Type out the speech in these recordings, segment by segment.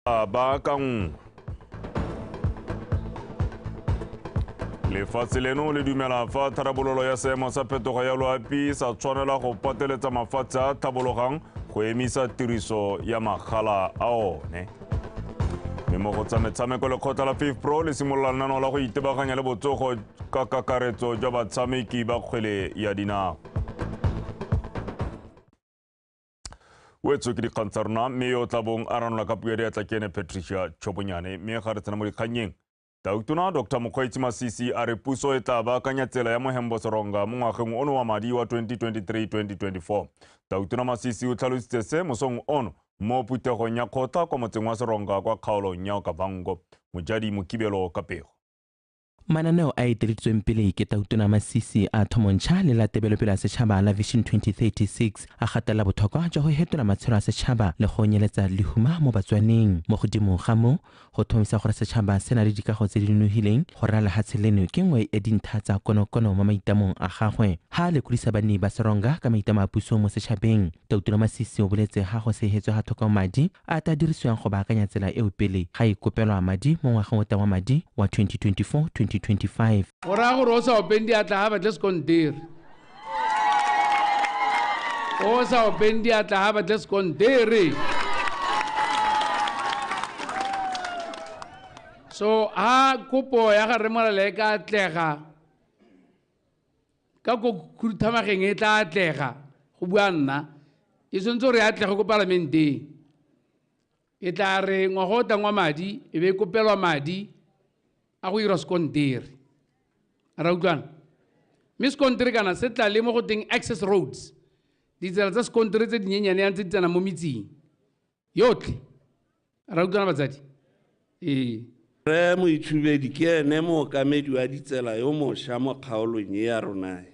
a baakanngwe lefatshe leno le dumela fa tharabololo ya seemo sa phetogo ya loapi sa tshwanela go pateletsa mafatshe a tlhabologang go emisa tiriso ya magala a one mme mo go tsa metshameko lekgotla la fif pro le simolola lenano la go itebaganya le botsogo ka kakaretso jwa batshameki ba kgwele ya dinao o e tswe ke dikgang tsa rona mme yo o tla bong a ranola ka puo ya diatla ke ene patricia tšhobonyane mme ga re tsena mo dikgannyeng tautona dr mokgweetsi masisi a re puso e tla baakanya tsela ya mohembo seronga mo ngwageng ono wa madi wa 2023-2024 tautona masisi o tlhalositse se mosong ono mo phuthegong ya kgotla kwa motseng wa seronga kwa kgaolong ya okavango mojadi mokibelo ka pego mananeo a eteleditsweng pele ke tautona masisi a thomontšha le la tebelopele ya setšhaba la vision 2036 a gatelela botlhokwa jwa go hetola matshelo a setšhaba le go nyeletsa lehuma mo batswaneng mo godimo ga mo go thomisa gore setšhaba se na le dikago tse di nonogileng go rera lehatshe leno ke nngwe ya dintha tsa konokono mo maitamong a gagwe ha a lekolisa banni ba seronga ka maitamo a puso mo setšhabeng Tautola Masisi o boletse ga go segetswe ga tlhokao madi a a tla dirisiwang go baakanya tsela eo pele ga e kopelwa madi mo ngwageng o tla wa madi wa 2024-2025. Go raya gore o sa openg diatla ga batle sekontere. O sa openg diatla ga batle sekontere. So ha kopo ya ga Rre Morale e ka atlega, ka ko khuduthamageng e tla atlega go bua nna e tshwanetse gore e atlege ko palamenteng e tla re ngwaga o tangwa madi e be e kopelwa madi a go ira sekontere ra utlwana mme sekontere kana se tla le mo go teng access roads ditsela tsa sekontere tse dinyenyane yang tse di tsena mo metseng yotlhe ra utlwana batsadi ee Re Moitshubedi ke ene mookamedi wa ditsela yo mosha mo kgaolong e ya ronae.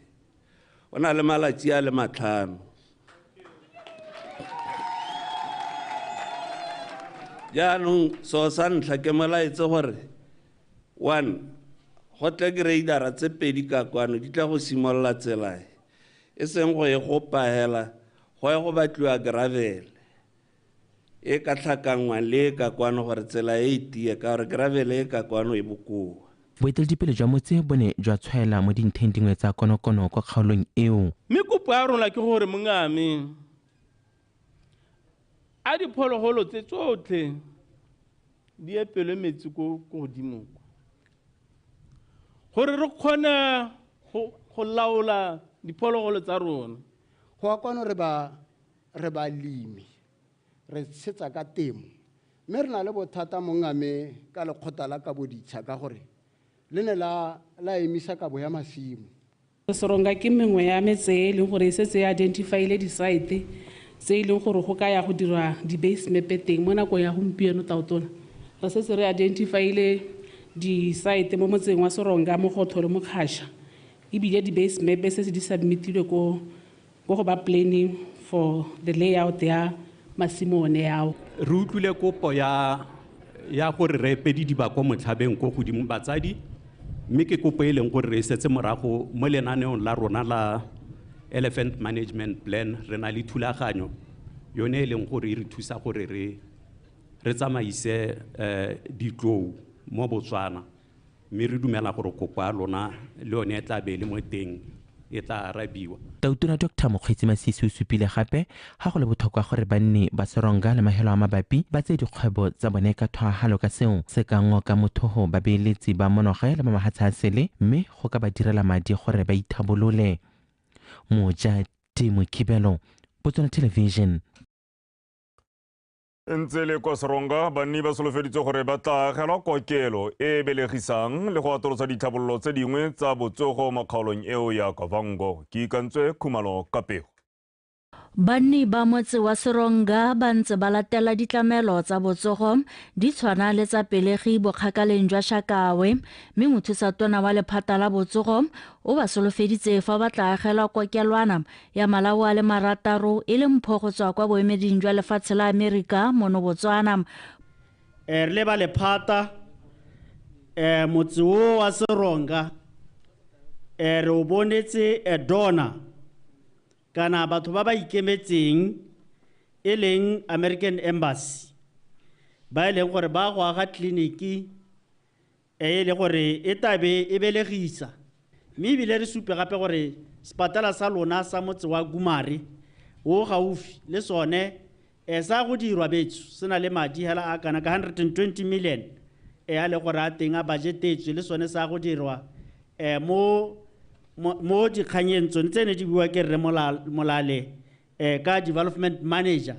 O na le malatsi a le matlhano. Jaanong seo sa ntlha ke molaetse gore one go tle greidara tse pedi ka kwano di tla go simolola tsela e. e seng go e gopa hela go ya go batliwa gravele e ka tlhakangwa le e ka kwano gore tsela e itie ka gore gravele e ka kwano e bokoa Boeteledipele jwa motse bo ne jwa tshwaela mo dintheng dingwe tsa konokono kwa kgaolong eo. Mme kopo ya rona ke gore mongame. a diphologolo tse tsotlhe di epelwe metsi ko ko godimo ko gore re kgone go go laola diphologolo tsa rona go ya kwano re ba re balemi re tshetsa ka temo mme re na le bothata mongame ka lekgotla la kabo ditsha ka gore le ne la la emisa kabo ya masimo Seronga ke mengwe ya metse e e leng gore e setse e identify-ile di-site tse e leng gore go ka ya go dirwa di-base map-e teng mo nakong ya gompieno. Taotona, re setse re identify-ile di-site mo motseng wa Seronga, Mogotho le Mokgasha ebile di-base map-e setse di submit-ilwe ko Ko go ba planning for the layout ya masimo one ao. Re utlwile kopo ya ya gore re epedi diba ko motlhabeng ko godimo batsadi mme ke kopo e leng gore re e setse morago mo lenaneong la rona la Elephant Management Plan re na le thulaganyo yone e leng gore e re thusa gore re re tsamaise ditlou mo Botswana. Mme re dumela gore kopo ya lona le yone e tla be e le mo teng e tla arabiwa. Tautona Doctor Mokgweetsi Masisi o supile gape ga go le botlhokwa gore banni ba Seronga le Mahelo a Mabapi ba tseye dikgwebo tsa bone ka thwahalo ka seo se ka ngoka mothogo babeeletsi ba monoge le ba mahatsha a sele mme go ka ba direla madi gore ba ithabolole. Moja T. Mokibelo, Botswana Television. ntse le kwa seronga banni ba solofeditse gore ba tla agelwa kokelo e e belegisang le go atolosa ditlhabololo tse dingwe tsa botsogo mo kgaolong eo ya kavango ke ikantswe khumalo ka pego banni ba motse wa seronga ba ntse ba latela ditlamelo tsa botsogo di tshwana le tsa pelegi bokgakaleng jwa shakawe mme mothusa tona wa lephata la botsogo o ba solofeditse fa ba tla agelwa kokelwana ya malao a le marataro e le mpho go tswa kwa boemeding jwa lefatshe la Amerika mono Botswana. Eh, re leba lephata eh, motse o wa seronga eh, re o bonetse eh, dona kana batho ba ba ikemetseng e leng american embassy ba e leng gore ba go aga tleliniki e e le gore e tla be e belegisa mme ebile re supe gape gore sepatala sa lona sa motse wa Gumare o gaufi le sone e sa go dirwa betso se na le madi hela a kana ka 120 million e a le gore a teng a budgetetswe le sone sa go dirwa um mo mo dikganyeng tsone tse ne di bua ke rre molale eh, ka development manager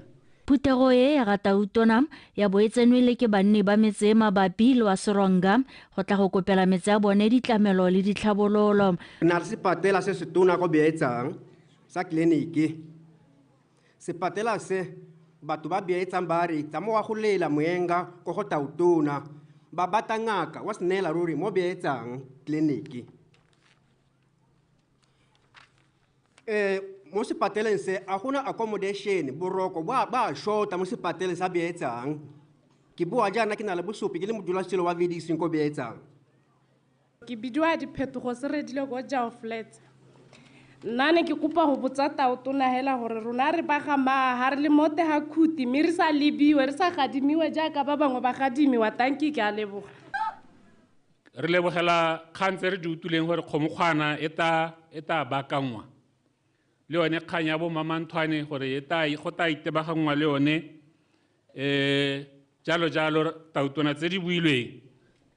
Phuthego e ya Gatautona ya bo e tsenwele ke banni ba metse e mabapi le wa Seronga go tla go kopela metse ya bone ditlamelo le ditlhabololo. Re na le sepatela se se tona go beetsang sa tleliniki. Sepatela se batho ba beetsang ba re tsa mo wa go lela moenga ko go tautona ba bata ngaka wa se neela ruri mo beetsang tleliniki. eh mo sepateleng se a gona accommodation boroko ba ba shota mo sepateleng sa beetsang ke boa jaana ke na le bosopi ke le modulasetilo wa vediseng ko beetsang ke bidiwa diphetogo se redile ko jao flats nna ne ke kopa go botsa tao tona hela gore rona re baga maa ga re le mote ga khuti mme re sa lebiwe re sa gadimiwe jaaka ba bangwe ba gadimiwa tanki ke a leboga Re lebogela kgang tse re di utlwileng gore kgomokgwana e ta e ta bakanngwa le yone kgang ya bo mamanthwane gore e ta go ta itebaganngwa le yone um jalo jalo tautona tse di builweng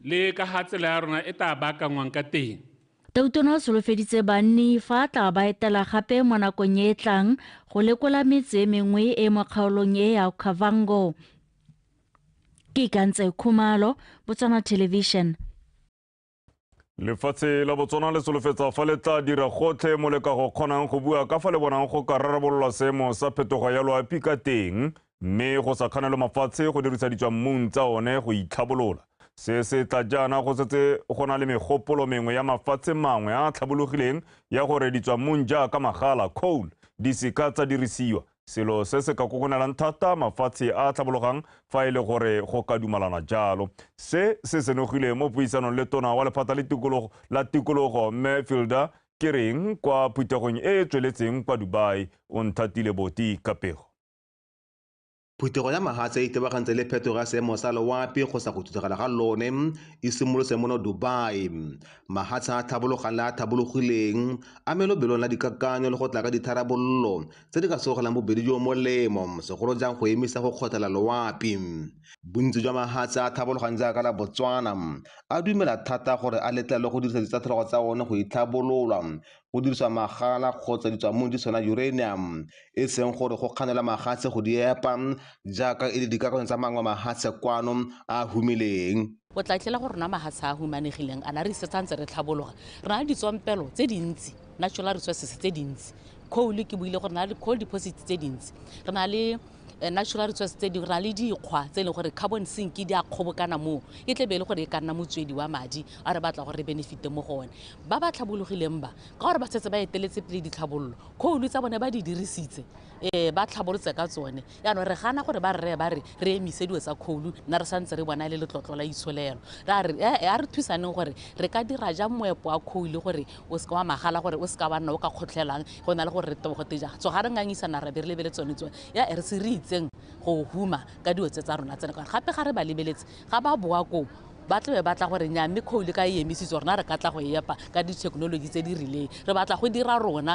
le ka ga tsela ya rona e ta baakangwang ka teng Tautona o solofeditse banni fa a tla ba etela gape mo nakong e e tlang go lekola metse e mengwe e mo kgaolong e ya Okavango. ke ikantse khumalo botswana television lefatshe la botswana le solofetsa fa le tla dira gotlhe mo le ka go kgonang go bua ka fa le bonang go ka rarabololwa seemo sa phetogo ya loapi ka teng mme go sa kganelwe mafatshe go dirisa ditswammung tsa one go itlhabolola se se tla jaana go setse go na le megopolo mengwe ya mafatshe mangwe a a tlhabologileng ya gore ditswammung jaaka magala coal di seka tsa dirisiwa Selo se se ka kokonelang thata mafatshe a a tlhabologang fa e le gore go ka dumalana jalo. Se se senogile mo puisanong le tona wa lephata le tikologo la tikologo Mme Fielder ke reng kwa phuthegong e e tsweletseng kwa Dubai, o nthatile boti ka pego. Phuthego ya mahatshe e itebagantse le phetogo ya seemo sa loapi go sa go thuthagala ga lone e simolotse mono Dubai. Mahatshe a a tlhabologang le a a tlhabologileng a melobelong la dikakanyo le go tla ka ditharabololo tse di ka sogelang bobedi jo molemo, segolo jang go emisa go kgothela loapi. Bontsi jwa mahatshe a a tlhabologang jaaka la Botswana a dumela thata gore a letlelwe go dirisa ditsatlhologo tsa one go itlhabololwa, go dirisa magala kgotsa ditswamong di tshwana uranium, e seng gore go kganela mahatshe go di epa jaaka e le dikarolong tsa mangwe mahatshe kwano a a humileng. O tla tlela go rona mahatsha a a humanegileng, ana re isetsa ntse re tlhabologa. Re na le ditswampelo tse dintsi, natural resources, tse dintsi. Coal, ke buile gore re na le coal deposits tse dintsi. Re na le eh, natural resources tse dingwe, re na le dikgwa tse e leng gore carbon sink di a kgobokana moo. E tle be e le gore e ka nna motswedi wa madi a re batla gore re benefite mo go one. Ba ba tlhabologileng ba, ka gore ba setse ba eteletse pele ditlhabololo, coal tsa bone ba di dirisitse, um ba tlhabolotse ka tsone. Jaanong re gana gore ba rre ba re re emise dilo tsa kgoulu nna re santse re bona e le letlotlo la itsholelo. Ra re, ee, a re thusaneng gore re ka dira jang moepo wa kgoulu gore o se ke wa magala, gore o se ka wa nna o ka kgotlhelang go na le gore re tebogo tejang. Tsoga re ngangisana ra be re lebeletse tsone tso, ee, re se re itseng go huma ka dilo tse tsa rona tsena, ka gore gape ga re ba lebeletse ga ba boa koo ba tlabe ba tla gore nya mme kgoulu ka e emisitswe rona re ka tla go e epa ka dithekenoloji tse di rileng. Re batla go dira rona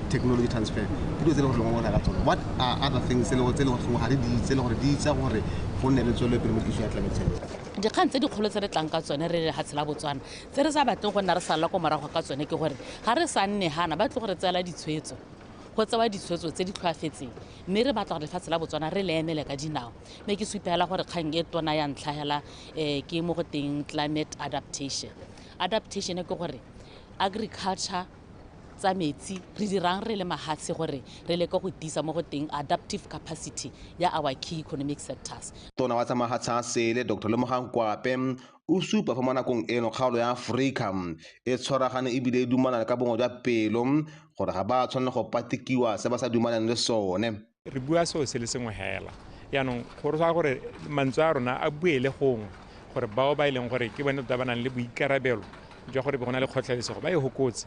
technology transfer ke dilo tse e leng gore lengwe bona ka tsone what are other things tse e leng gore ga re di itse le gore di itsa gore go nne le tswelo pele mo issue ya climate change dikgang tse dikgolo tse re tlang ka tsone re le gatshe la botswana tse re sa batleng go nna re sala ko morago ka tsone ke gore ga re sa nne gana ba tle gore tseela ditshwetso go tsewa ditshwetso tse di tlhoafetseng mme re batla gore lefatshe la botswana re le emele ka dinao mme ke supela gore kgang e tona ya ntlhagela um ke mo go teng climate adaptation adaptation ke gore agriculture tsa metsi re dirang re le mahatshe gore re leke go tiisa mo go teng adaptive capacity ya our key economic sectors. Tona wa tsa mahatshe a sele, Doctor Lemogang Kwape, o supa fa mo nakong eno kgaolo ya Aforika e tshwaragane e bile e dumalana ka bongwe jwa pelo gore ga ba tshwanela go patekiwa se ba sa dumalaneng le sone. re bua seo se le sengwe hela yaanong go rotsa gore mantswe a rona a buele gongwe gore bao ba e leng gore ke bone tota ba nang le boikarabelo jwa gore be go na le kgotlhelesego ba e hokotse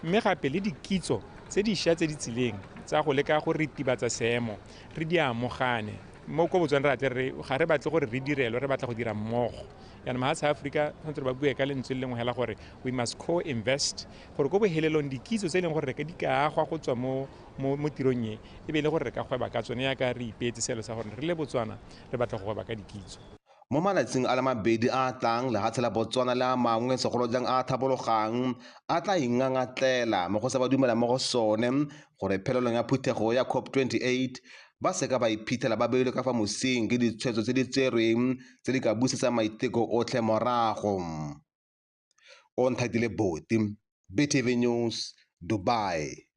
mme gape le dikitso tse dišwa tse di tsileng tsa go leka go ritibatsa seemo re di amogane mo ko botswana re atle re ga re batle gore re direlwe re batla go dira mmogo yana mahatshe a aforika tshwanetse ba bue ka lentswe le lengwe hela gore we must co-invest gore ko bohelelong dikitso tse e leng gore re ka di ka agwa go tswa mo mo, mo tirong e e be e le gore re ka gweba ka tsone yaka re ipeetse seelo sa gore re le Botswana re batla go gweba ka dikitso. Mo malatsing a le mabedi a a tlang, lehatshe la Botswana le a mangwe segolo jang a a thabologang a tla ingangatlela mo go se ba dumelang mo go sone gore phelelong ya phuthego ya COP 28 ba seka ba iphitlhela ba beilwe ka fa mosing ke ditshwetso tse di tserweng tse di ka busetsang maiteko otlhe morago. o nthatile boti BTV News Dubai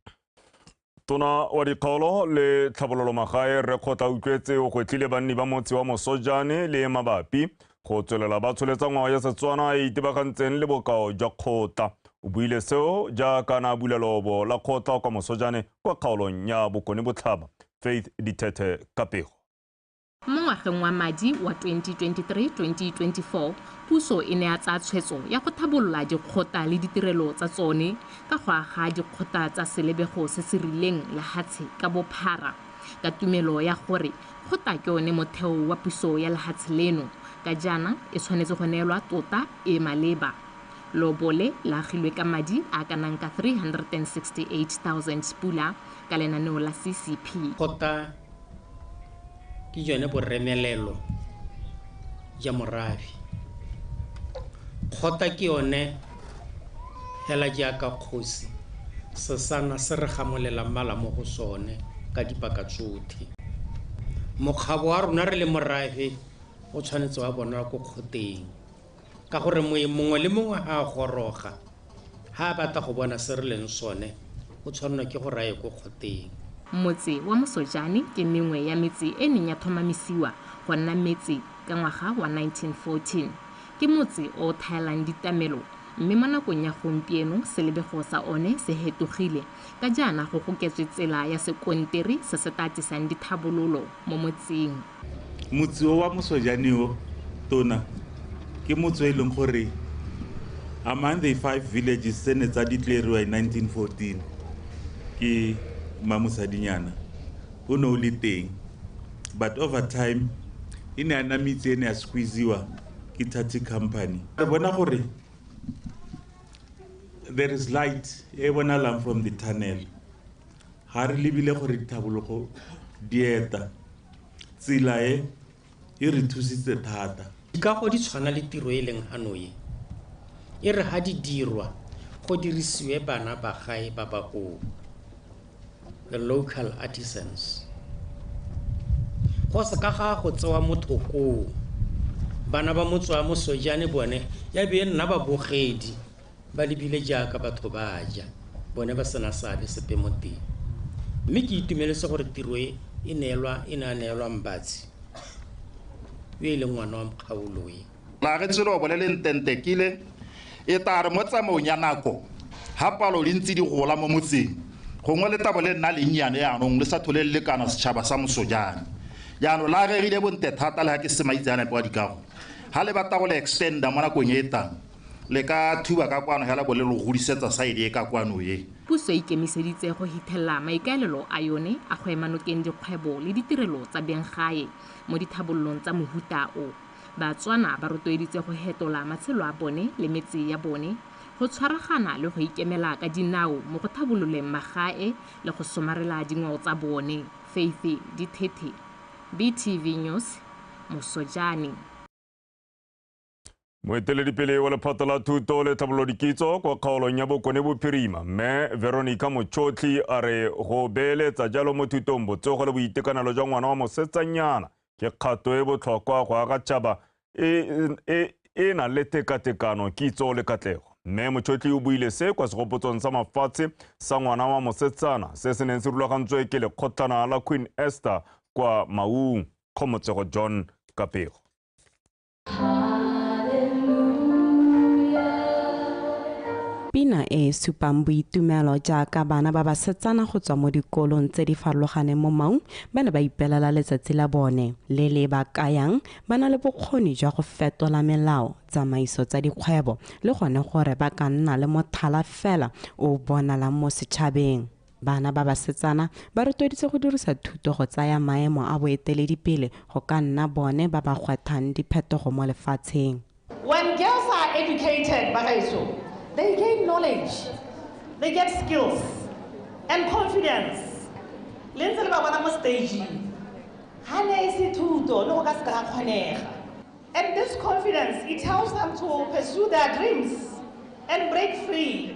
Tona wa dikgaolo le tlhabololo magae re kgotla utlwetse o gwetlile banni ba motse wa Mosojane le mabapi go tswelela ba tsholetsa ngwao ya Setswana e itebagantseng le bokao jwa kgotla. O buile seo jaaka na bula lobo la kgotla kwa Mosojane kwa kgaolong ya Bokone Botlhaba. Faith Dithethe Kapego. Mo ngwageng wa madi wa 2023-2024, puso e ne ya tsaya tshwetso ya go thabolola dikgota le ditirelo tsa tsone ka go aga dikgota tsa selebego se se rileng lehatshe ka bophara ka tumelo ya gore kgota ke one motheo wa puso ya lehatshe leno ka jaana e tshwanetse go neelwa tota e maleba. Lobo le la agilwe ka madi a a ka nang ka 368 000 pula ka lenaneo la CCP. Kgota ke jone boremelelo ja morabi kgota ke yone fela jaaka kgosi sesana se re gamolela mmala mo go sone ka dipaka tsotlhe mokgabo wa rona re le morafe o tshwanetse wa bonwa ko kgoteng ka gore moe mongwe le mongwe a goroga ha a batla go bona se re leng sone o tshwanelwa ke go raye ko kgoteng Motse wa Mosojane ke mengwe ya metse e neng ya thomamisiwa go nna metse ka ngwaga wa 1914. Ke motse o o thaelang ditamelo mme mo nakong ya gompieno selebego sa one se hetogile ka jaana go goketswe tsela ya sekonteri se se tla tlisang dithabololo mo motseng. Motse o wa Mosojane o tona ke motse o e leng gore among the five villages tse ne tsa declare-riwa in 1914 ke Mmamosadinyana o ne o le teng but over time e ne ya nna metse e ne ya squeeze-iwa ke Thathi Company. Re bona gore there is light e bonalang from the tunnel Ga re lebile gore ditlhabologo di eta. Tsela e, e re thusitse thata. Dikago di tshwana le tiro e leng hanoye, e re ha di dirwa go dirisiwe bana ba gae ba bakoo, the local artisans. Go se ka ga go tsewa motho koo. Bana ba motse wa Mosojane bone ya be e nna babogedi. ba lebile jaaka batho ba ja, bone ba sena seabe sepe mo teng. Mme ke itumeletse gore tiro e e neelwa e ne a neelwa Mbatsi, yo e leng ngwana wa Mokgaolo e. Maagetswe le obole le ntentekile, e tla re mo tsamaong ya nako, ha palo di ntse di gola mo motseng, gongwe letabo le nna lennyane jaanong le sa thole le lekana setšhaba sa Mosojane. Jaanong le agegile bonte thata le ga ke se maitseanape wa dikago, ha le batla go le extender mo nakong e e tlang, Le ka thuba ka kwano hela bo le lo godisetsa side e ka kwano e. Puso e ikemiseditse go hithelela maikaelelo a yone a go ema nokeng dikgwebo le ditirelo tsa beng gae mo dithabololong tsa mohuta o. Batswana ba rotloeditse go hetola matshelo a bone le metse ya bone, go tshwaragana le go ikemela ka dinao mo go thabololeng magae le go somarela dingwao tsa bone. Faith Dithethe, BTV News, Mosojane. moeteledipele wa lephata la thuto le tlhabololo dikitso kwa kgaolong ya bokone bophirima mme veronica mochotlhi a re go beeletsa jalo mo thutong botsogo le boitekanelo jwa ngwana wa mosetsanyana ke kgato e botlhokwa go aga tšhaba e, e, e, e nang le tekatekano kitso le katlego mme mochotlhi o buile se kwa segopotsong sa mafatshe sa ngwana wa mosetsana se se neng se rulagantswe ke lekgotlana la queen esther kwa maung kgomotsego john kapego Pina e e supang boitumelo jaaka bana ba basetsana go tswa mo dikolong tse di farologaneng mo Maung ba ne ba ipelela letsatsi la bone le le ba kayang ba na le bokgoni jwa go fetola melao, tsamaiso tsa dikgwebo le gone gore ba ka nna le mothala fela o o bonalang mo setšhabeng. Bana ba basetsana ba rotloeditswe go dirisa thuto go tsaya maemo a boeteledipele go ka nna bone ba ba gwathang diphetogo mo lefatsheng. When girls are educated, bagaetsho, they gain knowledge, they get skills and confidence. Le ntse le ba bona mo stageng. Ga ne e se thuto, ne go ka se ka ga kgonega. And this confidence, it helps them to pursue their dreams and break free.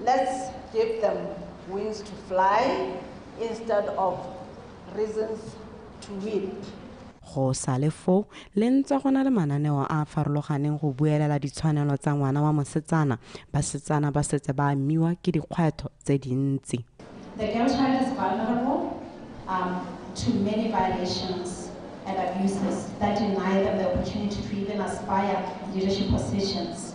Let's give them wings to fly instead of reasons to weep. Go sa le foo, le ntse go na le mananeo a a farologaneng go buelela ditshwanelo tsa ngwana wa mosetsana. Basetsana ba setse ba amiwa ke dikgwetlho tse dintsi. The girl child is vulnerable um, to many violations and abuses that deny them the opportunity to even aspire leadership positions.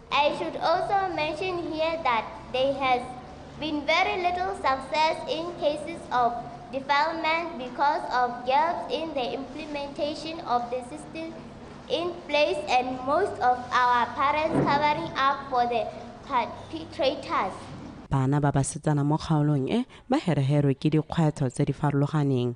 I should also mention here that there has been very little success in cases of defilement because of gaps in the implementation of the system in place and most of our parents covering up for the perpetrators. Bana ba basetsana mo kgaolong e ba hereherwe ke dikgwetlho tse di farologaneng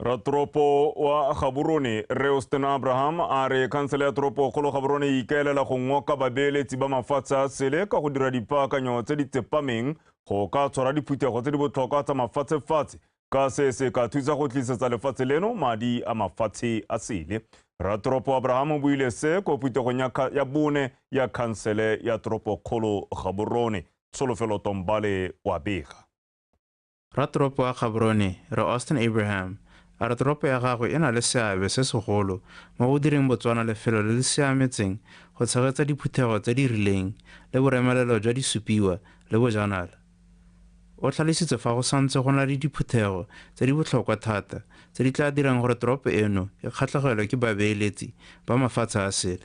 ratoropo wa gaborone reoston abraham a re khansele ya toropo kgolo gaborone e ikaelela go ngoka babeeletsi ba mafatshe a sele ka go dira dipaakanyo tse di tsepameng go ka tshwara diphuthego tse di botlhokwa tsa mafatshefatshe ka se se ka thusa go tlisetsa lefatshe leno madi a mafatshe a sele ratoropo abraham o buile se ko phuthegong ya bone ya khansele ya toropo kgolo gaborone tsholofelo tombale wa bega Ratoropo wa Gaborone, Rre Austin Abraham, a re toropo ya gagwe e na le seabe se segolo mo go direng Botswana lefelo le le siametseng go tshegetsa diphuthego tse di rileng le boremelelo jwa disupiwa le bojanala. O tlhalositse fa go santse go na le diphuthego tse di botlhokwa thata tse di tla dirang gore toropo eno e kgatlhegelwe ke babeeletsi ba mafatshe a sele.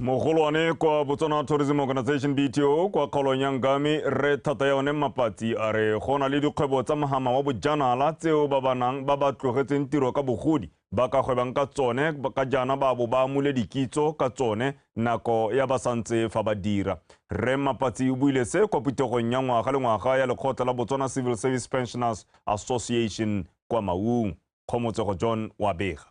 mogolwane kwa botswana tourism organization bto kwa kgaolong ya ngame re thata ya one mapatsi a re go na le dikgwebo tsa mogama wa bojanala tseo ba banang ba ba tlogetseng tiro ka bogodi ba ka gwebang ka tsone ka jaana ba bo ba amule dikitso ka tsone nako ya ba santse fa ba dira re mapatsi o buile se kwa putegong ya ngwaga le ngwaga ya lekgotla la botswana civil service pensioners association kwa maung kgomotsego john wa bega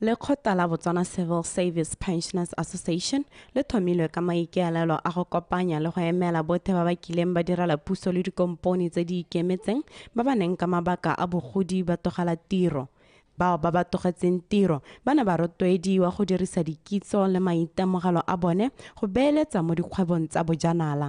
Lekgotla la Botswana Civil Service Pensioners Association le thomilwe ka maikaelelo a go kopanya le go emela bothe ba ba kileng ba direla puso le dikompone tse di ikemetseng ba ba neng ka mabaka a bogodi ba togela tiro. Bao ba ba togetseng tiro ba ne ba rotloediwa go dirisa dikitso le maitemogelo a bone go beeletsa mo dikgwebong tsa bojanala.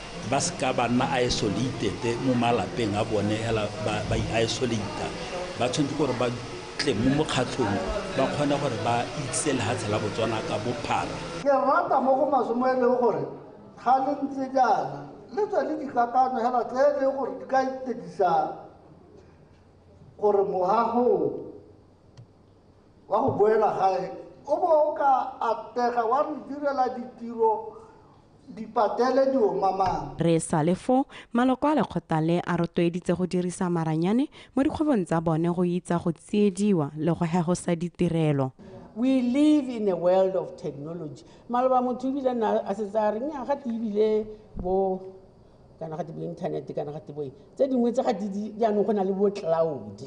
ba se ka ba nna isolated mo malapeng a bone hela ba i-isolate-a ba tshwanetse gore ba tle mo mokgatlhong ba kgone gore ba itse lehatshe la Botswana ka bophara. Ke rata mo go maswe mo e leng gore ga le ntse jaana le tswa le dikakanyo hela tse e leng gore di ka itedisang gore moago wa go boela gae o bo o ka atega wa re direla ditiro dipatele di omamang. Re sa le foo, maloko a lekgotla le a rotloeditse go dirisa maranyane mo dikgwebong tsa bone go itsa go tsiediwa le go hegosa ditirelo. We live in a world of technology. Maloba motho ebile na a setse a reng ga te ebile bo kana ga te bo internet kana ga te boe tse dingwe tse ga di jaanong go na le bo cloud.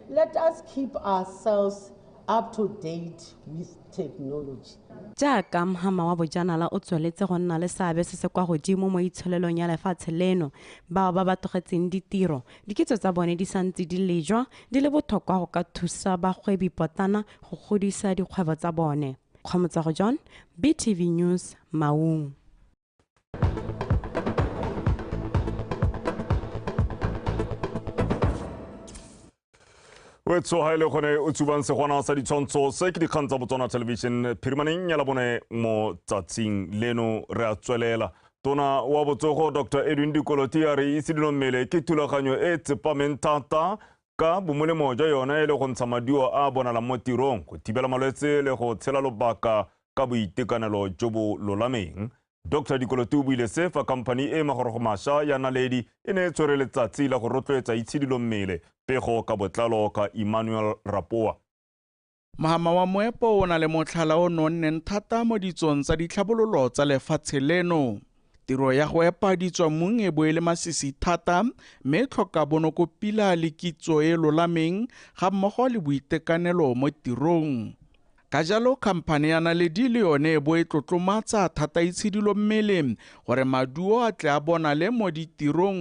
Let us keep ourselves up to date with technology. Jaaka mhama wa bojanala o tsweletse go nna le seabe se se kwa godimo mo itsholelong ya lefatshe leno, bao ba ba tlogetseng ditiro dikitso tsa bone di sa ntse di lejwa di le bothokwa go ka thusa bagwebipotlana go godisa dikgwebo tsa bone. Kgomotsago John, BTV News, Maun. o e tshoga e le gone o tsubang segwana sa ditshwantsho se ke dikgang tsa botswana television phirimaneng ya labone mo tsatsing leno re a tswelela tona wa botsogo dr edwin dikoloti a re itshidilo mmele ke thulaganyo e tsepameng thata Ka bomolemo jwa yone e le go ntsha maduo a a bonalang mo tirong, go thibela malwetse le go tshela lobaka ka boitekanelo jo bo lolameng. Dr Dikolote o buile se fa khamphani e magorogo masha ya Naledi e ne e tshwere letsatsi la go rotloetsa itshidilo mmele pego ka botlalo ka Emmanuel Rapoa. Mohama wa moepo o na le motlhala o nonneng thata mo ditsong tsa ditlhabololo tsa lefatshe leno. Tiro ya go epa ditswamong e bo e le masisi thata mme e tlhoka bonoko pila le kitso e lolameng ga mmogo le boitekanelo mo tirong. Ka jalo khamphane ya Naledi le yone e bo e tlotlomatsa thata itshidilo mmele gore maduo a tle a bonale mo ditirong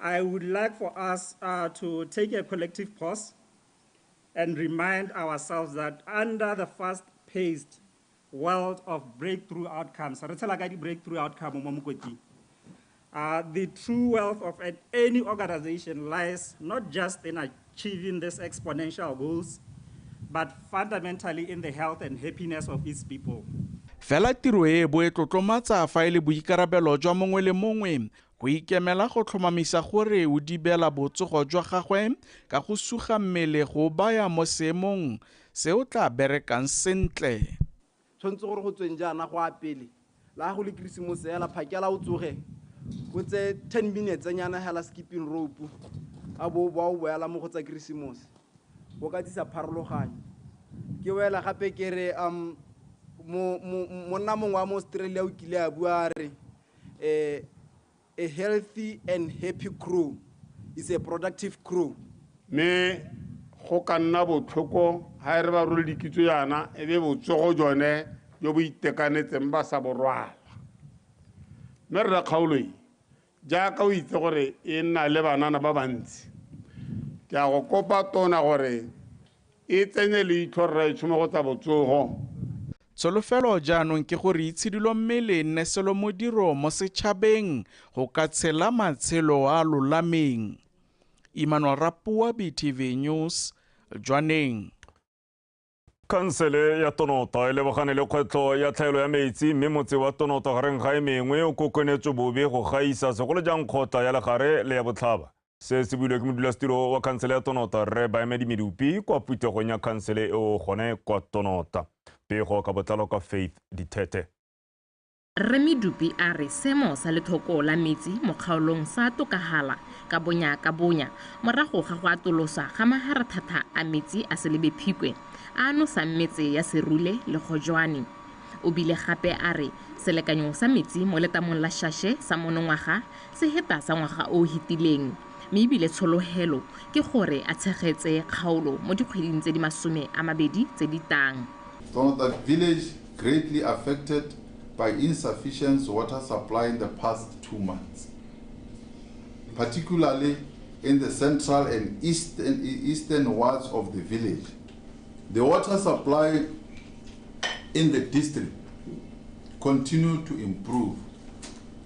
I would like for us uh, to take a collective pause and remind ourselves that under the fast-paced world of breakthrough outcomes, re tshela ka di-breakthrough outcome mo mokoting, uh, the true wealth of an, any organization lies not just in achieving these exponential goals, but fundamentally in the health and happiness of its people. fela tiro e bo e tlotlomatsa fa e le boikarabelo jwa mongwe le mongwe Go ikemela go tlhomamisa gore o dibela botsogo jwa gagwe ka go suga mmele go o baya mo seemong se o tla berekang sentle. Tshwanetse gore go tsweng jaana go a pele, la gago le Keresemose hela, phakela o tsoge o tse 10 minutes nyana hela skipping rope, a bo o boa o boela mo go tsa Keresemose. Go ka tsisa pharologanyo. Ke boela gape ke re, um, mo, mo, monna mongwe wa mo Australia o kile a bua a re, a, a healthy and happy crew is a productive crew. Me go ka nna botlhoko ga e re ba role dikitso yana e be botsogo jone jo bo itekanetseng ba sa borwala mme rra kgaoloi jaaka o itse gore e nna le banana ba bantsi ke a go kopa tona gore e tsenye leitlho rraetsho mo go tsa botsogo. Tsholofelo jaanong ke gore itshidilo mme le nne selomodiro mo setšhabeng go ka tshela matshelo a lolameng. Emmanuel Rapoa, BTV News, Jwaneng. Khansele ya Tonota e lebogane le kgwetlho ya tlhaelo ya metsi mme motse wa Tonota gareng ga e mengwe o kokonetswe bobe go gaisa segolo jang kgotla ya legare le ya botlhaba. Se se builwe ke modulasetiro wa khansele ya Tonota Rre Baemedi Medupi kwa phuthegong ya khansele eo gone kwa Tonota. Pego ka botlalo ka Faith Dithethe. Rre Medupi a re seemo sa lethoko la metsi mo kgaolong sa tokagala ka bonya ka bonya morago ga go atoloswa ga maharathata a metsi a Selebe Phikwe a a nosang metse ya Serule le Kgojwane. O bile gape a re selekanyo sa metsi mo letamong la Shashe sa monongwaga Seheta sa ngwaga o o hetileng mme ebile tsholohelo ke gore a tshegetse kgaolo mo dikgweding tse di masome a mabedi tse di tang. Tsone that village greatly affected by insufficience water supply in the past two months, particularly in the central and eastern eastern wards of the village. The water supply in the district continue to improve.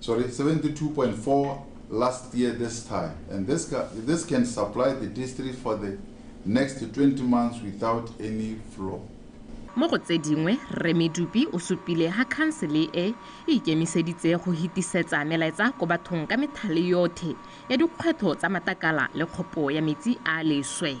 Sorry, 72.4 last year this time. And this, this can supply the district for the next 20 months without any flaw. mo go tse dingwe rre medupi o supile ga khansele e e ikemiseditse go hitisetsa melaetsa ko bathong ka methale yothe ya dikgwetho tsa matakala le kgopo ya metsi a leswe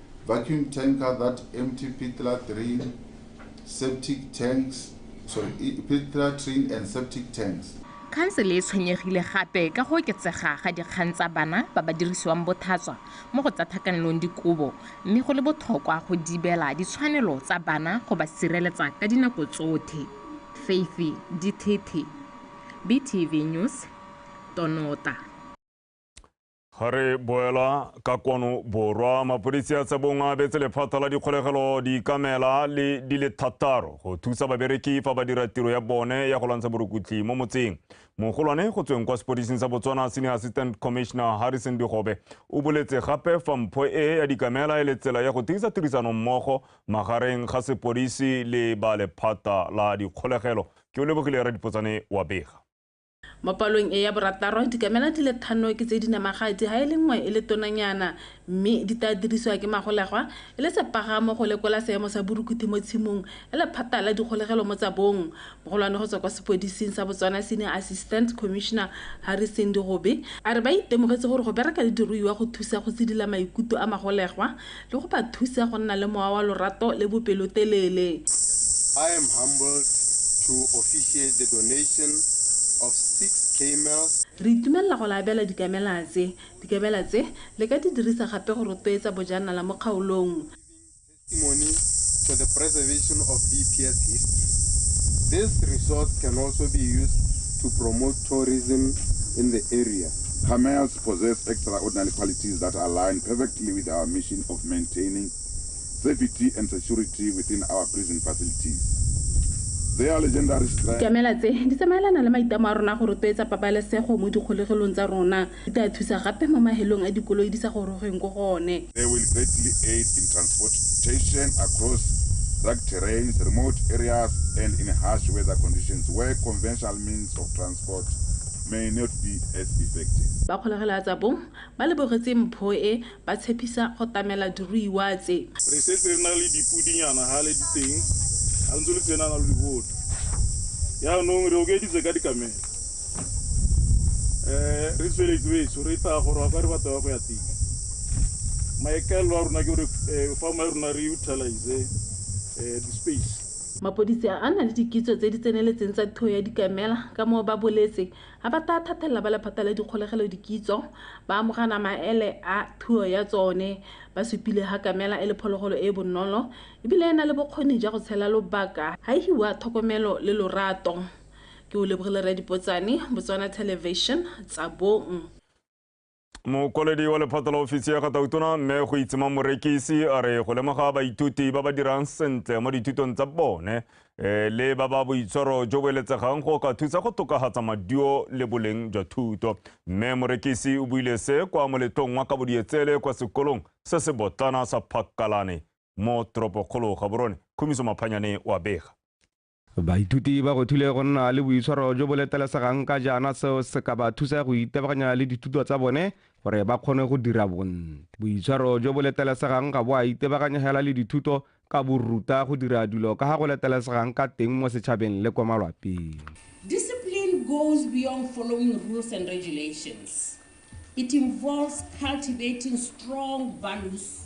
vacuum tanker that empty pit latrine septic tanks sorry pit latrine and septic tanks Khansele e tshwenyegile gape ka go oketsega ga dikgang tsa bana ba ba dirisiwang bothatswa mo go tsa thakanelong dikobo mme go le botlhokwa go dibela ditshwanelo tsa bana go ba sireletsa ka dinako tsothe. Faithy Dithethe, BTV News, Tonota. Ga re boela ka kwano borwa, mapodisi a Tsebong a abetse lephata la dikgolegelo dikamela le di le thataro go thusa babereki fa ba dira tiro ya bone ya go lwantsha borukutli mo motseng. Mogolwane go tsweng kwa sepodising sa Botswana Senior Assistant Commissioner Harrison Digobe o boletse gape fa mpho e ya dikamela e le tsela ya go tiisa tirisano mmogo magareng ga sepodisi le ba lephata la dikgolegelo. Ke o lebogile ra dipotsane wa bega. Mo palong e ya borataro, dikamela di le thano ke tse di namagatsi ha e le nngwe e le tonanyana mme di tla dirisiwa ke magolegwa e le sepagamo go lekola seemo sa borukuthi mo tshimong ya lephata la dikgolegelo mo tsa bong. Mogolwane go tswa kwa sepodising sa Botswana Senior Assistant Commissioner Harry Sendi Gobe a re ba itemogetse gore go bereka le diruiwa go thusa go tsidila maikuto a magolegwa le go ba thusa go nna le mowa wa lorato le bopelotelele. I am humbled to officiate the donation of six camels. Re itumelela go le abela dikamela tse. Dikamela tse le ka di dirisa gape go rotloetsa bojanala mo kgaolong. Testimony to the preservation of BPS history. This resource can also be used to promote tourism in the area. Camels possess extraordinary qualities that align perfectly with our mission of maintaining safety and security within our prison facilities. Their legendary strength. Dikamela tse di tsamaelana le maitlamo a rona go rotloetsa pabalesego mo dikgolegelong tsa rona. Di tla thusa gape mo mahelong a dikoloi di sa gorogeng ko go one. They will greatly aid in transportation across rugged terrains, remote areas, and in harsh weather conditions where conventional means of transport Port may not be as effective. Ba kgolegela tsa bong ba lebogetse mpho e, ba tshepisa go tamela diruiwa tse. Re setse re na le dipudinyana hale di teng, ha ntse le tsenana lo di bona. Yaanong re okeditse ka dikamela. Eh, re tsweletse betso, re tla go rwaka re batla ya go ya teng. Maikaelelo a rona ke gore eh, farm ya rona re utilize eh, di-space. Mapodisi a a na le dikitso tse di tseneletseng tsa thuo ya dikamela ka moo ba boletse ha ba taa thathelela ba lephata la dikgolegelo dikitso, ba amogana maele a thuo ya tsone. Ba supile ha kamela e le phologolo e e bonolo e bile e na le bokgoni ja go tshela lobaka ha e hiwa thokomelo le lorato. Ke Olebogile Radipotsane, Botswana Television, Tsabong. mokwaledi wa lephata la ofisi ya ga tautona mme go itsema morekisi a re go lemoga baithuti ba ba dirang sentle mo dithutong tsa bone eh, le ba ba boitshwaro jo bo eletsegang go ka thusa go tokagatsa maduo le boleng jwa thuto mme morekisi o buile se kwa moletlong wa ka bodietsele kwa sekolong se se botlana sa phakalane mo toropokgolo ga borone khumiso maphanyane wa bega Baithuti ba ruthile go nna le boitshwaro jo bo letelesegang ka jaana seo se ka ba thusa go itebaganya le dithuto tsa bone gore ba kgone go dira bontle. Boitshwaro jo bo letelesegang ga bo a itebaganyegela le dithuto ka bo ruta go dira dilo ka ga go letelesegang ka teng mo setšhabeng le kwa malwapeng. Discipline goes beyond following rules and regulations. It involves cultivating strong values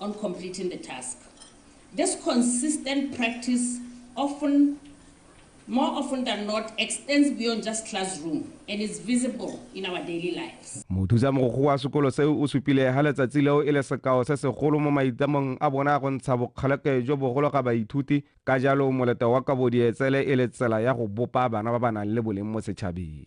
on completing the task. This consistent practice often, more often than not, extends beyond just classroom and is visible in our daily lives. mothusa mogokgo wa sekolo seo o supile ga letsatsi leo e le sekao se segolo mo maitamong a bona go ntsha bokgaleke jo bogolo ga baithuti ka jalo moleta wa kabodietsele e le tsela ya go bopa bana ba ba nang le boleng mo setšhabeng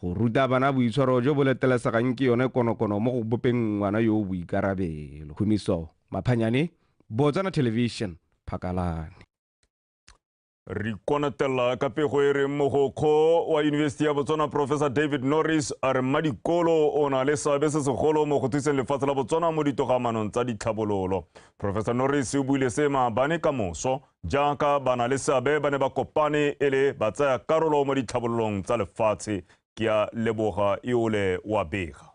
Go ruta bana boitshwaro jo bo letelesegang ke yone konokono mo go bopeng ngwana yo o boikarabelo. Humiso Maphanyane, Botswana Television, Phakalane. Re konatela ka pego e reng mogokgo wa Yunibesiti ya Botswana Professor David Norris a re mmadikolo o na le seabe se segolo mo go thuseng lefatshe la Botswana mo ditogamanong tsa ditlhabololo. Professor Norris o buile se maabane ka moso jaaka ba na le seabe ba ne ba kopane e le ba tsaya karolo mo ditlhabololong tsa lefatshe ke a leboga eole wa bega.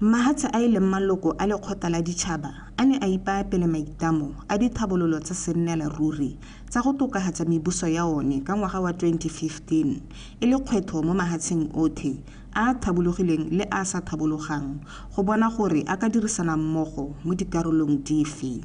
Mahatshe a e leng maloko a lekgotla la ditšhaba a ne a ipaya pele maitlamo a dithabololo tsa sennela ruri tsa go tokahatsa mebuso ya one ka ngwaga wa 2015 e le kgwetho mo mahatsheng othe a a thabologileng le a a sa thabologang go bona gore a ka dirisana mmogo mo dikarolong dife.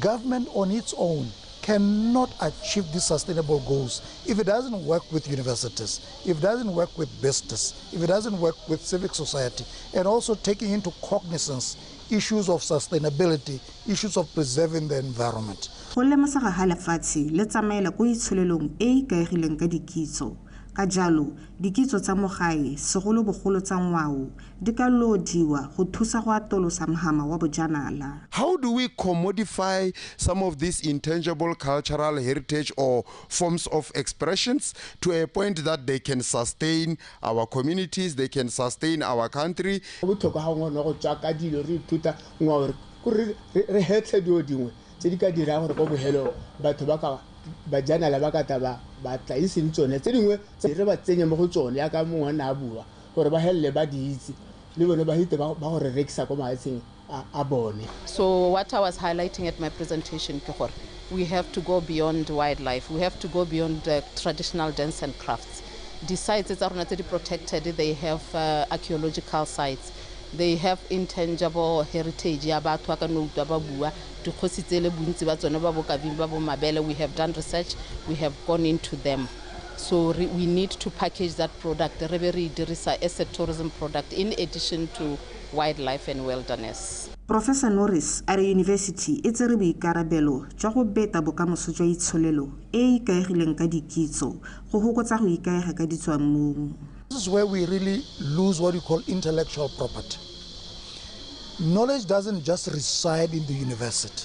Government on its own cannot achieve these sustainable goals if it doesn't work with universities, if it doesn't work with business, if it doesn't work with civic society, and also taking into cognizance issues of sustainability, issues of preserving the environment. Go lemosaga ga lefatshe le tsamaela ko itsholelong e e ikaegileng ka dikitso. Ka jalo, dikitso tsa mo gae, segolobogolo tsa ngwao, Di ka loodiwa go thusa go atolosa mhama wa bojanala. How do we commodify some of these intangible cultural heritage or forms of expressions to a point that they can sustain our communities, they can sustain our country? Go botlhokwa ga ngwana go tswa ka dilo re ithuta ngwao re kore re hetlhe dilo dingwe tse di ka dirang gore ko bohelong batho ba ka bajanala ba ka tla ba ba tla iseng tsone tse dingwe tse re ba tsenye mo go tsone yaka mongwe na a bua gore ba helele ba di itse le bone ba hite ba go re rekisa ko maetsheng a bone so what i was highlighting at my presentation ke gore we have to go beyond wildlife we have to go beyond the traditional dance and crafts di-sites tsa rona tse di protected they have uh, archaeological sites they have intangible heritage ya batho ba ka no utlwa ba bua dikgosi tsele bontsi ba tsone ba bokabing ba bo mabele we have done research we have gone into them So re, we need to package that product re be re e dirisa as a tourism product in addition to wildlife and wilderness. Professor Norris a re yunibesiti e tsere boikarabelo jwa go beta bokamoso jwa itsholelo e e ikaegileng ka dikitso go hokotsa go ikaega ka ditswammung. This is where we really lose what we call intellectual property. Knowledge doesn't just reside in the university.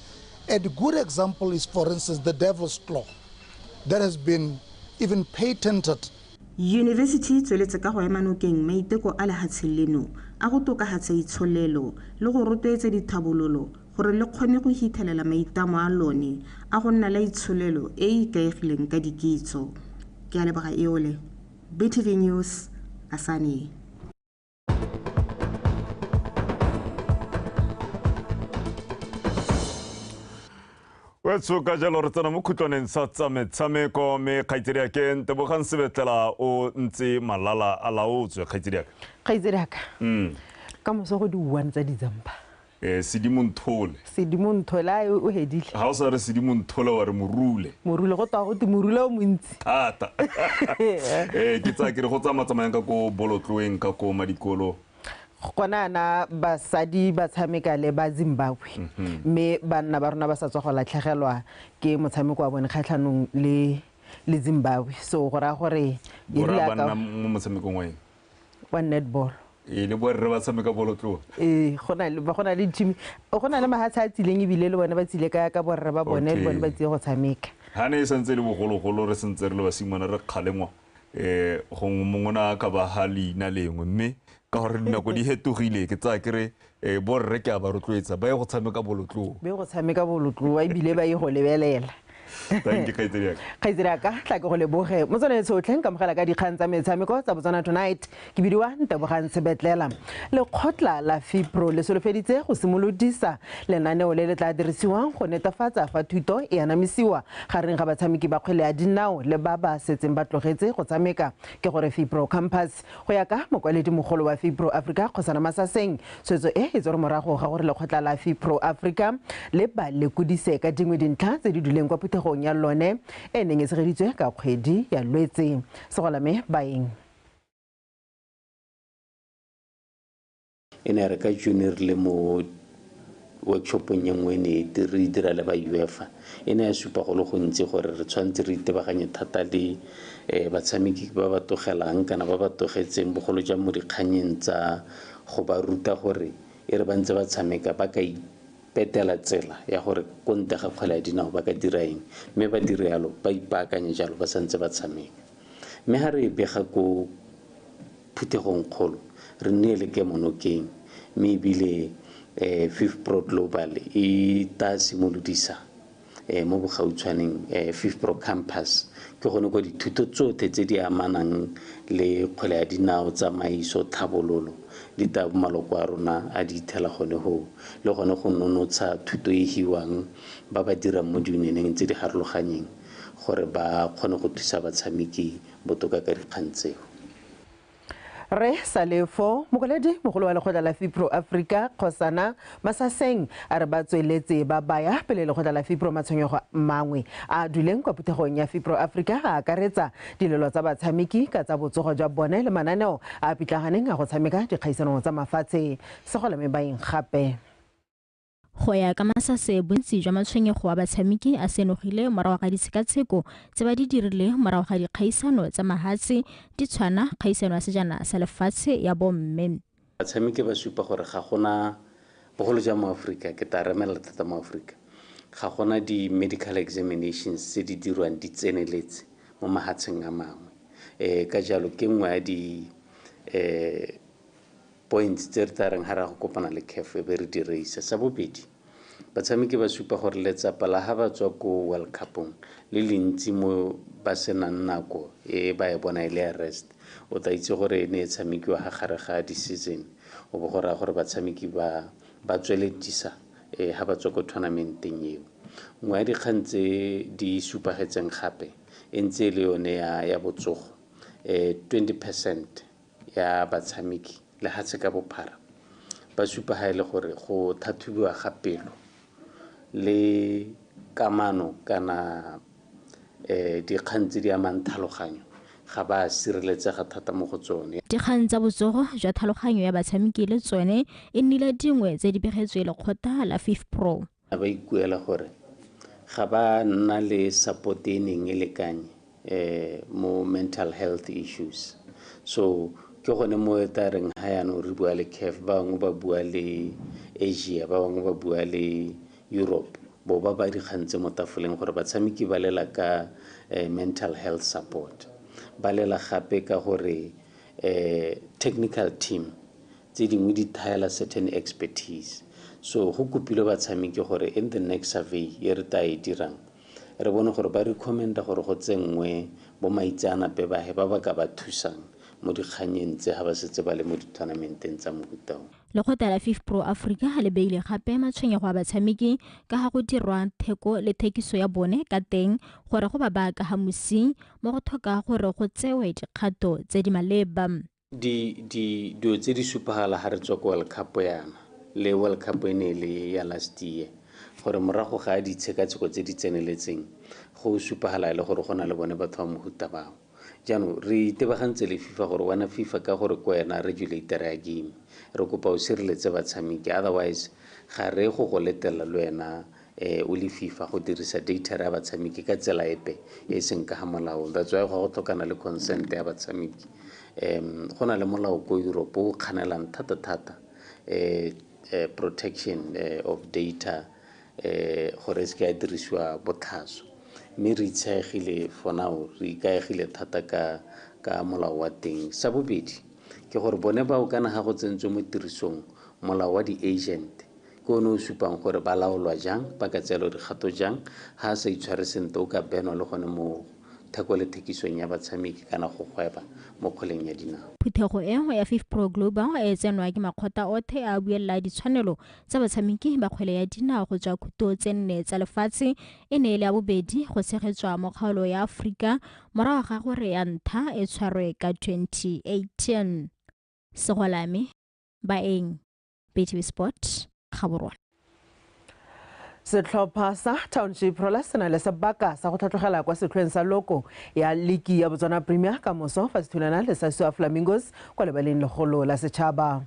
And a good example is, for instance, the devil's claw that has been even patented. Yunibesithi e tsweletse ka go ema nokeng maiteko a lehatsheng leno a go tokahatsa itsholelo le go rotloetsa dithabololo gore le kgone go hithelela maitamo a lone a go nna la itsholelo e e ikaegileng ka dikitso. Ke a leboga Eole. BTV News, Asane. Well, so ka jalo re tsena mo khutlwaneng sa tsametshameko mme kgaitsedi ya ke ntebogang sebetlela o ntse malala a laotswe kgaitsedi yaka kgaitsedi yaka mm. ka moso go di one tsa ditsampa Eh, sedimo nthole sedimo nthole a o hedile ga o sa re sedimo nthole wa re morule morule go twa go te morule o montsi thata eh ke tsa ke re go tsamaya tsamayang ka ko bolotloeng ka ko madikolo gona ana basadi ba tshameka le ba zimbabwe mhm. mme banna ba rona ba sa tswa go latlhegelwa ke motshameko wa bone kgatlhanong le le zimbabwe so go raya gore motshamekong wa eng wa netball ee le borre ba tshameka bolotloa ee go na le team go na le mahatsha a tsileng ebile le bone ba tsile ka ka borre ba bone le bone ba tsile go tshameka ga ne e santse e le bogologolo re sentse re le basimane re kgalengwa um gongwe mongwe ne a ka ba ga leina lengwe mme ka gore dinako di hetogile ke tsaya kere Ee, borre ke a ba rotloetsa ba ye go tshameka bolotloa. Ba ye go tshameka bolotloa ebile ba ye go lebelela. Thank you, Kgaitsedi yaka. Kgaitsedi yaka, tla ke go leboge. Motswana e tshotlhe, nkamogela ka dikgang tsa metshameko tsa Botswana Tonight. Ke bidiwa Ntebogang Sebetlela. Lekgotla la FIPRO le solofeditse go simolodisa lenaneo le le tla dirisiwang go netefatsa fa thuto e anamisiwa gareng ga batshameki ba kgwele ya dinao le ba ba setseng ba tlogetse go tshameka. Ke gore FIPRO Campus. Go ya ka mokwaledi-mogolo wa Fipro Africa, Kgosana Masaseng, tshwetso e e tsere morago ga gore lekgotla la Fipro Africa le ba lekodise ka dingwe dintlha tse di duleng kwa phuthegong ya lone e neng e tshegeditswe ka kgwedi ya Lwetse. Segolame Baeng. e ne re ka june re le mo workshopong ye nngwe ne e re dira le ba uefa e ne ya supa go le gontsi gore re tshwanetse re itebaganye thata le um batshameki ba ba togelang kana ba ba togetseng bogolo jang mo dikganyeng tsa go ba ruta gore e re ba ntse ba tshameka ba ka ipetela tsela ya gore ko nte ga kgwele ya dinao ba ka dira eng mme ba dire yalo ba ipaakanye jalo ba santse ba tshameka mme ga re e bega ko phuthegongkgolo, re nnile le kemonokeng, mme e bile FIFPro Global e tla simolodisa mo bogautshwaneng FIFPro Campus, ke gone kwa dithuto tsotlhe tse di amanang le kgwele ya dinao, tsamaiso, tlhabololo, di tla bo maloko a rona a di ithela gone hoo, le gone go nonotsha thuto e hiwang ba ba dirang mo diunioneng tse di harologanyeng gore ba kgone go thusa batshameki botoka ka dikgang tseo. Rre Salefo, Mokwaledi mogolo wa lekgotla la FIPRO Africa, Kgosana Masaseng a re ba tsweletse ba baya pele lekgotla la FIPRO matshwenyego mangwe a a duleng kwa phuthegong ya FIPRO Africa a akaretsa dilelo tsa batshameki ka tsa botsogo jwa bone le mananeo a a pitlaganeng a go tshameka dikgaisanong tsa mafatshe segolame baeng gape. Go ya ka Masase, bontsi jwa matshwenyego a batshameki a senogile morago ga ditshekatsheko tse ba di dirile morago ga dikgaisano tsa mahatshe di tshwana kgaisano ya sejana sa lefatshe ya bomme. Batshameki ba supa gore ga gona, bogolo jang mo Aforika, ke ta remelela thata mo Aforika, ga gona di-medical examinations tse di dirwang di tseneletse mo mahatsheng a mangwe. Ka jalo, ke nngwe ya di Points tse re tla reng ha re ya go kopana le CAF e be re di reisa. Sa bobedi, batshameki ba supa gore letsapa la ha ba tswa ko World Cup-ong le le ntsi mo ba senang nako e ba e bona e le ya rest. O tla itse gore e ne e tshamekiwa ha gare ga di-season o bo go raya gore batshameki ba ba tsweledisa eh, ha ba tswa ko tournamenteng eo. Nngwe ya dikgang tse di supagetseng gape e ntse e le yone ya, ya botsogo eh, 20 percent ya batshameki lehatshe ka bophara ba supa ha e le gore go thathubiwa ga pelo le kamano kana um dikgang tse di amang thaloganyo ga ba sireletsega thata mo go tsone dikgang tsa botsogo jwa thaloganyo ya batshameki le tsone e nnile dingwe tse di begetswe lekgotla la fifpro A ba ikuela gore ga ba nna le support e neng e lekanye mo mental health issues. So ke gone mo e tla reng ha yanong re bua le CAF ba bangwe ba bua le Asia, ba bangwe ba bua le Europe bo ba ba dikgang tse mo tafoleng gore batshameki ba lela ka mental health support. Ba lela gape ka gore technical team tse dingwe di thaela certain expertise so go kopilwe batshameki gore in the next survey e re ta e dirang re bone gore ba recommenda gore go tsenngwe bo maitseanape bahe ba ba ka ba thusang mo dikganyeng tse ga ba setse ba le mo ditournamenteng tsa mohuta o lekgotla la fif pro africa le beile gape matshwenyego a batshameki ka ga go dirwa theko le thekiso ya bone ka teng gore go ba ba ka ga mosi mo go tlhoka gore go tsewe dikgato tse di maleba Dilo tse di supagala ga re tswa ko World Cup yana le World Cup e ne e le ya last year gore morago ga ditshekatsheko tse di tseneletseng go supagala e le gore go na le bone batho ba mohuta bao jaanong re itebagantse le fifa gore wena fifa ka gore ko wena regulator ya game re kopa o sireletse batshameki otherwise ga re go go letela le wena um o le fifa go dirisa data ya batshameki ka tsela epe e e seng ka ga molaong that's why go go tlhokana le consent ya batshameki um go na le molao ko europe o kganelang thata-thata um protection of data um gore e se ke ya dirisiwa botlhaswa mme re itsheegile for now re ikaegile thata ka ka molao wa teng sa bobedi ke gore bone bao kana ga go tsentswe mo tirisong molao wa di-agent Ke one o supang gore ba laolwa jang, ba ka tseelwa dikgato jang, ha a sa itshware sentle o ka benwa le gone mo theko le thekisong ya batshameki kana go gweba mo kgweleng ya dinao. Phuthego e ya FIFPro Global e tsenwa ke makgotla othe a a buelela ditshwanelo tsa batshameki ba kgwele ya dinao go tswa khuto tse nne tsa lefatshe, e ne e le ya bobedi go tshegetswa mo kgaolo ya Aforika morago ga gore ya ntha e tshwarwe ka 2018. Segolame, Baeng. btv sport gaborwa setlhopha sa township rola se na le sebaka sa go tlhatlogela kwa setlhoeng sa loko ya liki ya botswana premier ka moso fa se thulana le sa sua flamingos kwa lebaleng legolo la setšhaba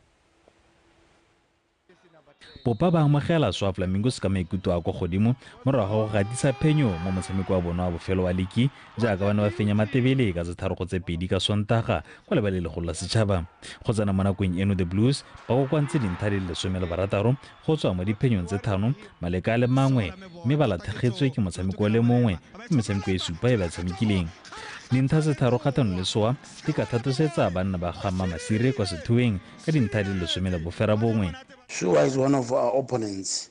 popa ba amogela swa flamingos ka maikuto a kwa godimo morago ga go gatisa phenyo mo motshameko wa bona wa bofelo wa liki jaaka ba ne ba fenya matebele ka tse tharo go tse pedi ka sontaga kwa lebale legolo la setšhaba go tsena mo nakong eno the blues ba kokoantse dintlha di le lesome le barataro go tswa mo diphenyong tse thano maleka a le mangwe mme ba lathegetswe ke motshameko o le mongwe ke metshameko e supa e ba tshamekileng dintlha tse tharo kgatlhano le soa di ka thatosetsa banna ba gamma masire kwa sethoeng ka dintlha di le lesome le bofera bongwe Sure is one of our opponents.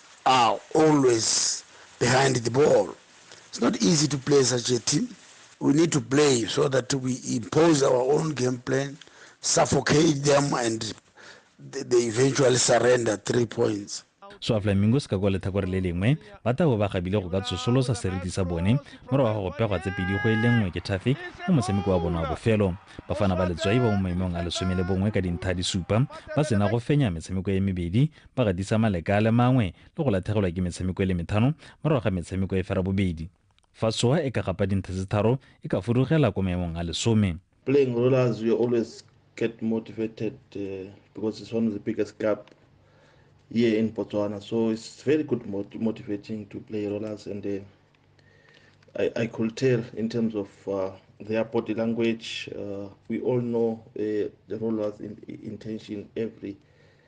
are always behind the ball. It's not easy to play such a team. We need to play so that we impose our own game plan, suffocate them, and they eventually surrender three points. so flamingos ka kwa letlhakore le lengwe ba tabo ba gabile go ka tsosolosa seriti sa bone morago ga go pegwa tse pedi go e le nngwe ke thafe mo motshameko wa bone wa bofelo bafana ba letswai ba mo maemong a lesome le bongwe ka dintlha di supa ba sena go fenya metshameko e mebedi ba gatisa maleka a le mangwe le go lathegelwa ke metshameko e le methano morago ga metshameko e fera bobedi. Fa Soha e ka gapa dintha tse tharo, e ka fudugela ko maemong a lesome. Playing Rollers, we always get motivated uh, because it's one of the biggest club here in Botswana. So it's very good mot- motivating to play rollers, and uh, I, I could tell in terms of uh, their body language. Uh, we all know uh, the rollers' in, intention every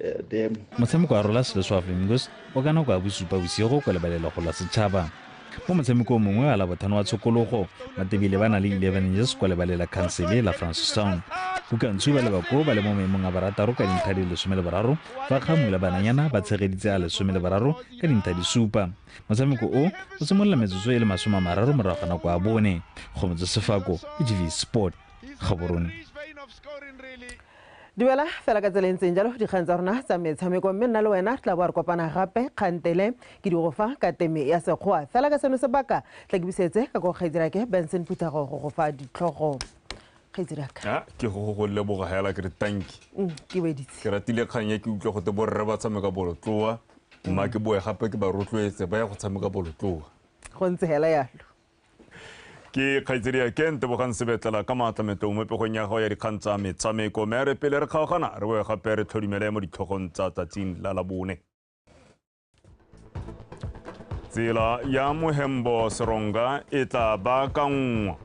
eh, motshameko wa rola selo swa flamingos o ka nako ya bosupa bosigo kwa lebalelego la setšhaba mo motshamekong mongwe a la bothano wa tshokologo matebile ba na le 11 years kwa lebalela khansele la francistown bokantshu ba lebako ba le mo maemong a barataro ka dintlha di lesome le boraro fa kgamula bananyana ba tshegeditse a lesome le boraro ka dintlha di supa motshameko o o simolola metsotso e le masome a mararo morago ga nako a bone go motse sefako ke gv sport gaborone Dumela fela ka tsela e ntseng jalo dikgang tsa rona tsa metshameko mme nna le wena re tla bo a re kopana gape kgantele ke di go fa ka teme ya sekgoa fela ka seno sebaka tla ke busetse ka ko kgaitsirake benson puthago go go fa ditlhogo kgaitsiraka Ah, ke go go go leboga hela ke re tanki Mm, ke weditse ke ratile kgang ya ke utlwa gote borre ba tshameka bolotloa mma ke boe gape ke ba rotloetse ba ya go tshameka bolotloa go ntse hela yalo ke kgaitsedi ya ken tebogang sebetlela ka maatla metong mo pegong ya gago ya dikgang tsa metshameko mme re pele re kgaogana re boe gape re tlhodimele mo ditlhogong tsa tsatsing la labone tsela ya mohembo seronga e tla baakanngwa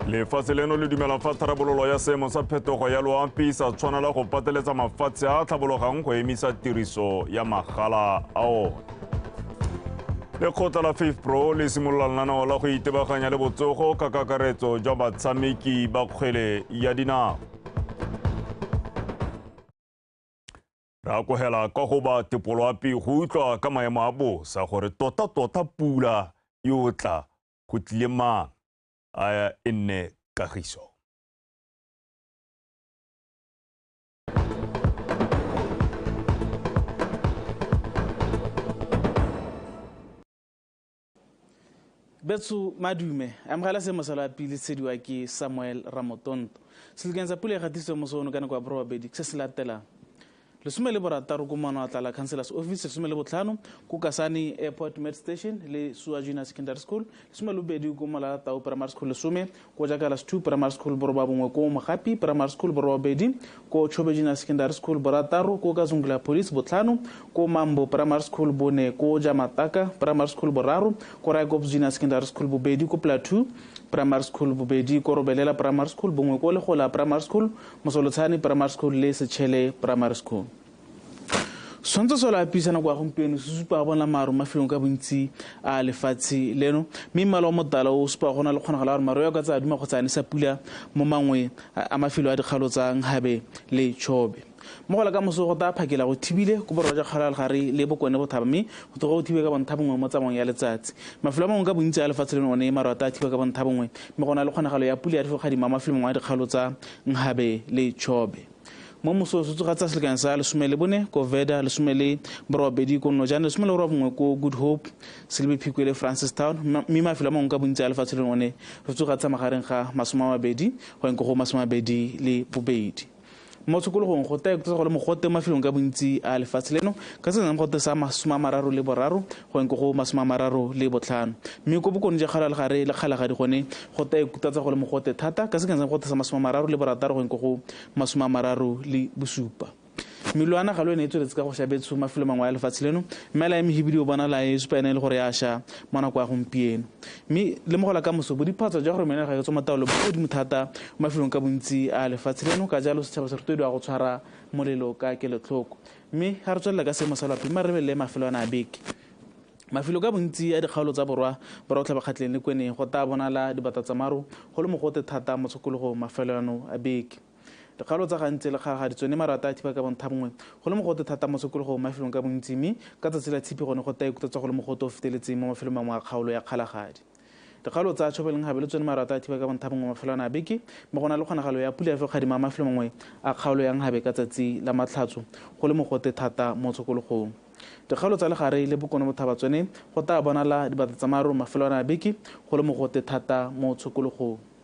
lefatshe leno le dumela fa tharabololo ya seemo sa phetogo ya loapi sa tshwanela go pateletsa mafatshe a a tlhabologang go emisa tiriso ya magala a one lekgotla la faith pro le simolola lenaneo la go itebaganya le botsogo ka kakaretso jwa batshameki ba kgwele ya dinao re akogela ka go ba tepoloapi go utlwa ka maemo a bosa gore tota-tota pula e o tla go tlile mang a e nne kagiso betso madume amogela se mosala wa pele tshediwa ke samuel ramotonto selokeng sa pula e gatisitswe moso ono ka nako ya borobabedi se se latelang Lesome le borataro ko Maano a Tlala Councillors Office, lesome le botlhano ko Kasane Airport Med Station le Sua Junior Secondary School, lesome le bobedi ko Molala Tau Primary School, lesome ko Jakalas Two Primary School, boroba bongwe ko Mogapi Primary School, boroba bobedi ko Chobe Junior Secondary School, borataro ko Kazungula Police, botlhano ko Mambo Primary School, bone ko Jamataka Primary School, boraro ko Raikops Junior Secondary School, bobedi ko Plateau Primary School, bobedi ko Robelela Primary School, bongwe ko Legola Primary School, Mosolotshane Primary School le Setšhele Primary School. Setshwantsho solo a pisa nako ya gompieno se supa go bona maru mafelong ka bontsi a lefatshe leno mme mmala o motala o supa go na le kgonagalo ya gore maru ya ka tsa duma kgotsa a nesa pula mo mangwe a mafelo a dikgalo tsa Nkgabe le Chobe. Mo go la ka moso go taya phakela go thibile ko borwa ja kgalo ya legare le bokone bothaba mme go tloga go thibe ka bontha bongwe mo tsamaong ya letsatsi. Mafelo a mangwe ka bontsi a lefatshe leno one maru a taya thiba ka bontha bongwe Mme go na le kgonagalo ya pula ya difokgadima mo mafelong a dikgaolo tsa Nghabe le Chobe. Mo moso se tsoga tsa selekanyo sa lesome le bone ko Veda, lesome le borobabedi ko Nojane, lesome le borobongwe ko Good Hope, Selebi Phikwe le Francistown, mme mafelo a mangwe ka bontsi a lefatshe leno one re tsoga tsa magareng ga masome a mabedi go yang ko go masome a mabedi le bobedi. mo tshokologong go tla ikutsa go le mogote mafelong ka bontsi a lefatshe leno ka se nang gote sa masome a mararo le boraro go eng ko go masome a mararo le botlhano mme ko bokone ja kgala legare le kgalagadi gone go tla ikutatsa go le mogote thata ka se nang gote sa masome a mararo le borataro go eng ko go masome a mararo le bosupa melwana ga lo ene e tsweletse ka go shabetso mafelo mangwe a lefatshe leno mme la ya mehibidi o bona la e supa ene e le gore ya sha mo nako ya gompieno Mme lemogo la kamoso, bodiphatsa jwa gore meno ga e tswa mo taolo bo godimo thata mo mafelong ka bontsi a lefatshe leno, ka jalo setšhaba se rotloediwa go tshwara molelo ka kelotlhoko. Mme ga re tswelela ka seemo sa loapi, mma re lebelele mafelo ana a beke. Mafelo ka bontsi a dikgaolo tsa borwa borwa botlhabakgatleng le kweneng go taa bonala dibatatsamaro go le mogote thata mo tshokologong mafelo ano a beke. Dikgaolo tsa gantsi le kgaraga di tsone marata a thiba ka bontha bongwe. Go le mogote thata mo sekologong mo mafelong ka bontsi mme ka tsatsi la Tshipi gone go taya kuta tsa go le mogote o feteletseng mo mafelong mangwe a kgaolo ya Kgalagadi. Dikgaolo tsa Tshobe le Nhabe le tsone marata a thiba ka bontha bongwe mafelwana a beke mme go na le kgonagalo ya pula ya fekgadima mafelo mangwe a kgaolo ya Nhabe ka tsatsi la Matlhatso go le mogote thata mo tshokologong. Dikgaolo tsa Legare le Bokone Bothaba tsone go taya bonala dibatatsamaro mafelwana a beke go le mogote thata mo tshokologong.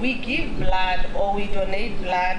we give blood or we donate blood